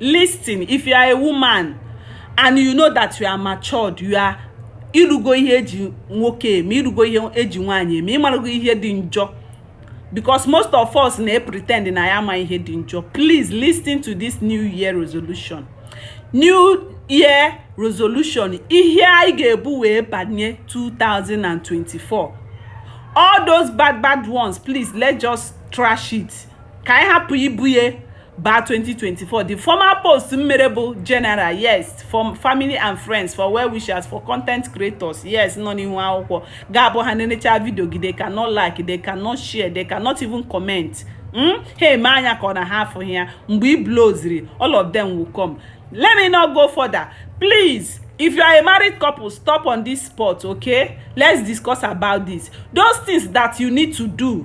listen if you are a woman and you know that you are matured you are irugo ihe eji nwoke eme irugo ihe eji nwaanyị eme ịmarago ihe dị njọ because most of us na-epretend na ya ama ihe dị njọ please listen to this new year resolution new year resolution ihe anyị ga-ebu wee banye 2024 all those bad bad ones please let's just trash it ka anyị hapụ ibu ya baa 2024 the former post m mere bụ general yes for family and friends for well wishers for content creators yes nọ n'ihu akwụkwọ ga-abụ ha nenechaa video gị they cannot like they cannot share they cannot even comment hmm? ha eme anya ka ọ na ha afụghị ya mgbe i blowziri all of them will come let me not go further please if you are a married couple stop on this spot okay let's discuss about this those things that you need to do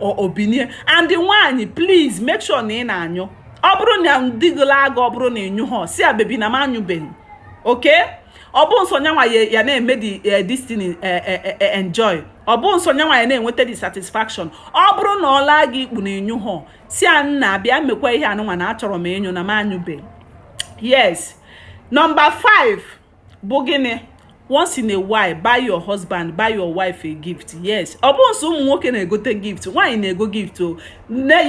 o binie and nwaanyị please make sure na ị na-anyụ ọ bụrụ na di gị laa gị ọ bụrụ na ịnyụhọ sị ya baby na m anyụbeghị okay ọ bụ nsọ nyanwa ya na-eme the eh, distin eh, eh, enjoy ọ bụ nsọ nyanwa ya na-enweta the satisfaction ọ bụrụ na ọ laa gị ikpu na ịnyụhọ sị ya nna bịa mekwa ihe anụnwa na achọrọ m ịnyụ na m anyụbeghị yes number 5 bụ gịnị once in a while buy your husband buy your wife a gift yes ọ bụ nsọ ụmụ nwoke na-egote gift nwaanyị na-ego gift o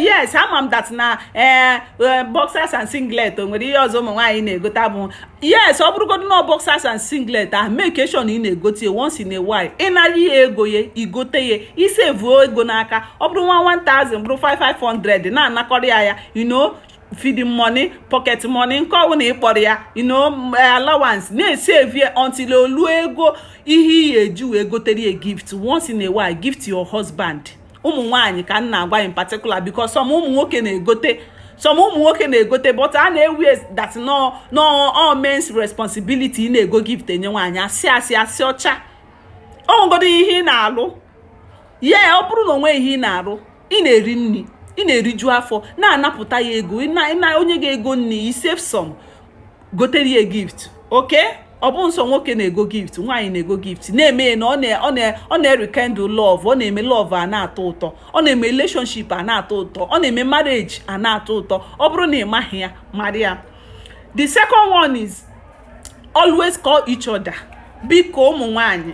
yes ama m that na ee eh, eh, boxers and singlet o nwere ihe ọzọ ụmụ nwaanyị na-egote abụ yes ọ bụrụgodu na boxers and singlet ahụ make sure na ị na-egote ya once in a while ị nara ya ego ya igote ya isavuo ego n'aka ọ bụrụ nwa 1000 bụrụ 500 na-anakọrọ ya you know feeding money pocket money nke ọbụla ị kpọrọ ya you know eh, allowance na-esave ya until o lu ego ihe ị ya-eji wee gotere ya gift once in a while gift your husband ụmụ nwaanyị ka m na-agwa in particular because some ụmụ nwoke na-egote some ụmụ nwoke na-egote but a na-ewe that na ọ all men's responsibility na-ego gift enye nwaanyị asị asị asị ọcha o nwegodu ihe ị na-alụ yeah ọ bụrụ na o nwe ihe ị na-alụ ị na-eri nni ị na-eriju afọ na-anapụta ya ego na o nye gị ego nni i save some gotere ya gift okay ọ bụ nsọ nwoke na-ego gift nwaanyị na-ego gift na-eme na ọ na-erekindle love ọ na-eme love a na-atọ ụtọ ọ na-eme relationship a na-atọ ụtọ ọ na-eme marriage a na-atọ ụtọ ọ bụrụ na ị maghị ya mara ya the second one is always call each other biko ụmụ nwaanyị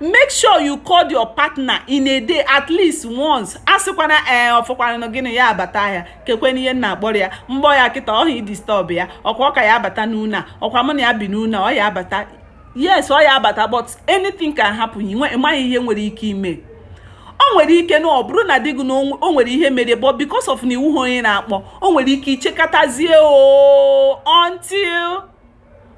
make sure you call your partner in a day at least once asịkwana ee eh, ọ fọkwanụ gịnị ya abata ahịa kekwenụ ihe m na-akpọrọ ya m kpọọ ya kịta ọha ịdisturb ya ọkwa ọ ka ya abata n'ụnọ ọkwa mụ na ya bi n'ụnọ ọ ya abata yes ọ ya abata but anything can happen ị maghị ihe nwere ike ime o nwere ike na ọ bụrụ na di gụ na o nwere ihe mere but because of na ị wụha onye na-akpọ o nwere ike ichekatazie o oh, until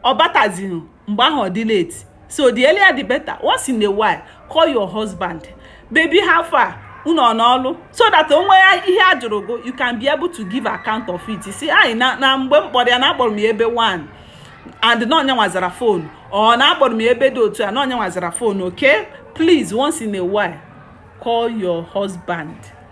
ọ batazighị mgbe ahụ ọ dị late so the earlier the better once in a while call your husband baby how far unu nọ n'ọlụ so that o nwee ihe a jụrụ gụ you can be able to give account of it sị ya na mgbe m kpọrọ ya na akpọrọ m ya ebe one and na ọ nya nwa zara phone or na akpọrọ m ya ebe dị otu a na ọ nya nwa zara phone okay please once in a while call your husband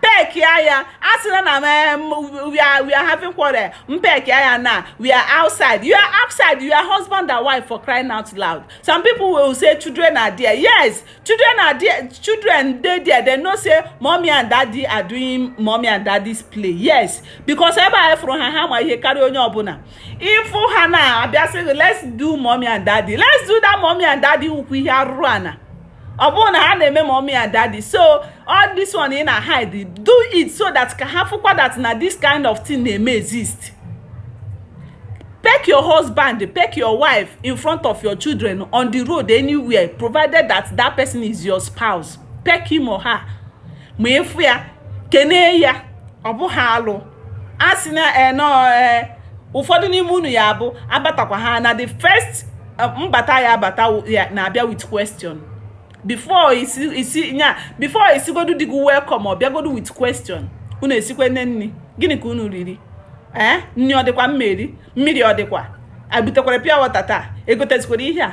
pekia ya a sịla na we are we are having quarrel mpekia ya na we are outside you are outside you are husband and wife for crying out loud some people will say children are there yes children are there children dey there they know say mommy and daddy are doing mommy and daddy's play yes because ebe a fụrụ ha ha ma ihe karịa onye ọbụla ịfụ ha na-abịa sị let's do mommy and daddy let's do that mommy and daddy ukwu ihe arụrụ ana ọ bụrụ na ha na-eme mommy and daddy so all this one ị na hide do it so that ka ha fụkwa that na this kind of thing na-eme exist peck your husband peck your wife in front of your children on the road anywhere provided that that person is your spouse peck him or her ma ị fụ ya kenee ya ọ bụha alụ a sị na enọọ eh, eh, ụfọdụ n'ime unu ya bụ abatakwa ha na the first eh, mbata ya abata na-abịa with question before ị sị ị sị nya before ị sịgodu di gụ welcome ọ bịagodu with question unu esikwe nni nni gịnị ka unu riri ee nni ọ dịkwa mmiri mmiri ọ dịkwa abutekwara pure water taa egotezikwara ihe a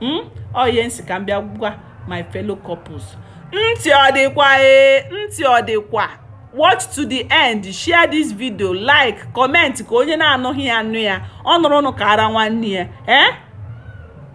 hmm? ọ ihe m sị ka m bịa gwa my fellow couples ntị ọ dịkwa ee ntị ọ dịkwa watch to the end share this video like comment ka onye na-anụghị ya nụ ya ọ nụrụnụ kaara nwanne ya ee eh?